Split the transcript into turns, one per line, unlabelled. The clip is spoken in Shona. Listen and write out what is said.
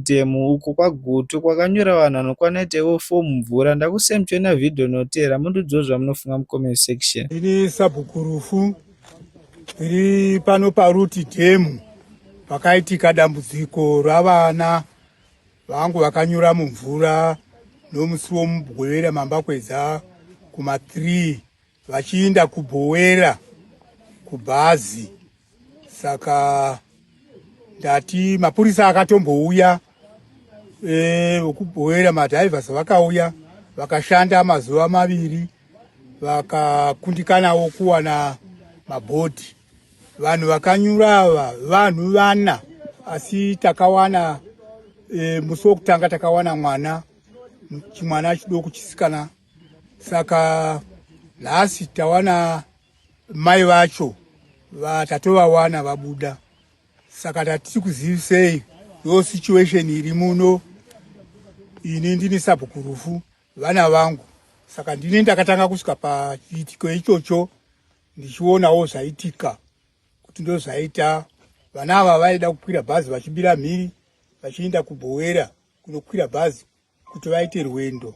Demo uko kwaGutu kwakanyura vanhu vanokwana 8 ivo 4 mumvura. Ndakusem choona video inoteera mundiudzewo zvamunofunga mucomment section. Ini Sabhuku Rufu ndiri pano paRuti Demo pakaitika dambudziko ravana vangu vakanyura mumvura nomusi woMugwevera mambakwedza kuma 3 vachiinda kubhowera kubhazi saka ndati mapurisa akatombouya e, kubhowera madhivers vakauya vakashanda mazuva maviri vakakundikanawo kuwana mabhodhi vanhu vakanyura ava vanhu vana asi takawana e, musi wokutanga takawana mwana chimwana chidoko chisikana saka nhasi tawana mai vacho vatatovawana vabuda saka tatiri kuzivisei yo situation iri muno ini ndini sabhuku rufu vana vangu saka ndini ndakatanga kusvika pachiitiko ichocho ndichionawo zvaitika kuti ndozvaita vana ava vaida kukwira bhazi vachibira mhiri vachienda kubhowera kunokwira bhazi kuti vaite rwendo